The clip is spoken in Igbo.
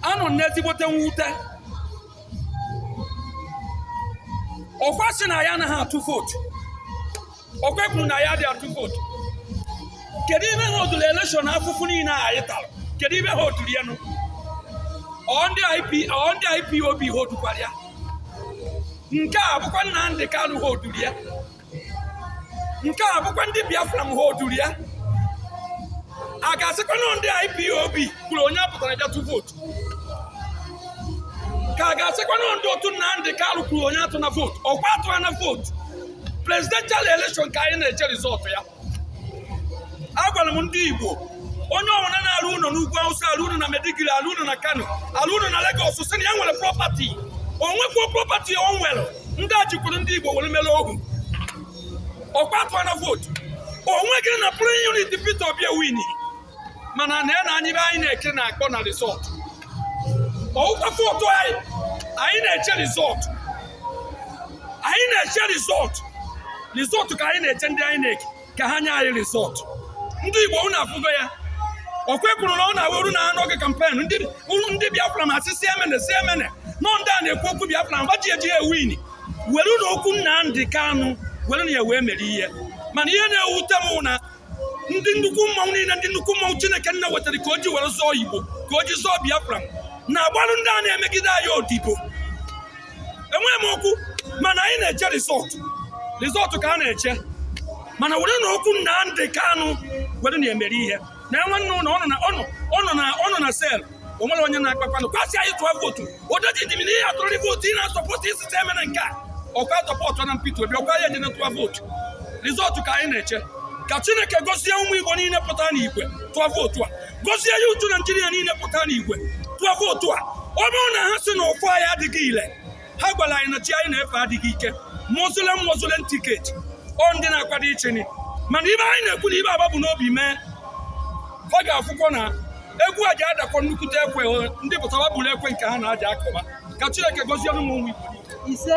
anọ m n'ezigbote mwute ọkwa sị na ya anaghị atụ vootu ọkwa kwuru na ya dị atụ vootu kedu ibe ha oduru elekshọn afụfụ niile a anyị tara kedu ibe ha oduru ya nụ ọ ndị IP ọ ndị IPOB ha odukwara ya nke a bụkwa Nnamdi Kanu ha oduru ya nke a bụkwa ndị biafra m ha oduru ya a ga-asịkwanụ ndị ipob kwuru onye apụtana bịa tụ vootu ka a ga-asịkwanụ ndị otu Nnamdi Kanu kwuru onye atụna vootu ọkwa a tụọna vootu presidential election ka anyị na-eche rizọtụ ya agwara m ndị Igbo onye ọbụla na-arụ ụlọ n'ugwu Awụsa arụ ụlọ na Maiduguri arụ ụlọ na Kano arụ ụlọ na Lagos sị na ya nwere prọpati o nwekwuo prọpati o nwere ndị a jikwuru ndị Igbo were mere ohu ọkwa a tụọna vootu o nweghị na polling unit Peter Obi ewini mana na ya na anyị be anyị na-eke na-akpọ na rizọt ọwụkwa vootu anyị anyị na-eche rizọt anyị na-eche rizọt rizọt ka anyị na-eche ndị INEC ka ha nye anyị rizọt ndị Igbo unu afụgo ya ọkwa e kwuru na ọ na-awụrụ na n'oge kampen ndị biafra ma asị si emene si emene nọ ndị a na-ekwu okwu biafra mgba ji eji ewin were na okwu Nnamdi Kanu were na ya wee mere ihe mana ihe na-ewute m na ndị nnukwu mmanwụ niile ndị nnukwu mmanwụ chineke nna wetara ka o ji were zọọ igbo ka o ji zọọ biafra na-agbarụ ndị a na-emegide anyị odibo enweghị m okwu mana anyị na-eche rizọtụ rizọtụ ka a na-eche mana were na okwu Nnamdi Kanu were na-emere ihe na nwanne unu ọ nọ na sel o nwere onye na-akpakwanụ ọkwa a sị anyị tụọ vootu odoji dị m na ihe atụrụrị vootu ị na-asọpọtụ isi te emere nke a ọkwa sọpọtụ na Peter Obi ọkwa ya ejene tụọ vootu rizọtụ ka anyị na-eche ka chineke gozie ụmụ igbo niile pụta n'igwe tụọ vootu a gozie ya ụmụ naijiria niile pụta n'igwe tụọ vootu a ọ bụrụ na ha sị na ọfọ anyị adịghị ile ha gwara anyị na chi anyị na-efe adịghị ike muslim muslim tiket ọ ndị na-akwado iche ni mana ibe anyị na-ekwu na ibe aba bu n'obi mee ọ ga-afụkwa na egwu a ji adakwa nnukwute ekwe ndị pụtara buru ekwe nke ha na-aja akụba ka chineke gozie ụmụ Igbo ise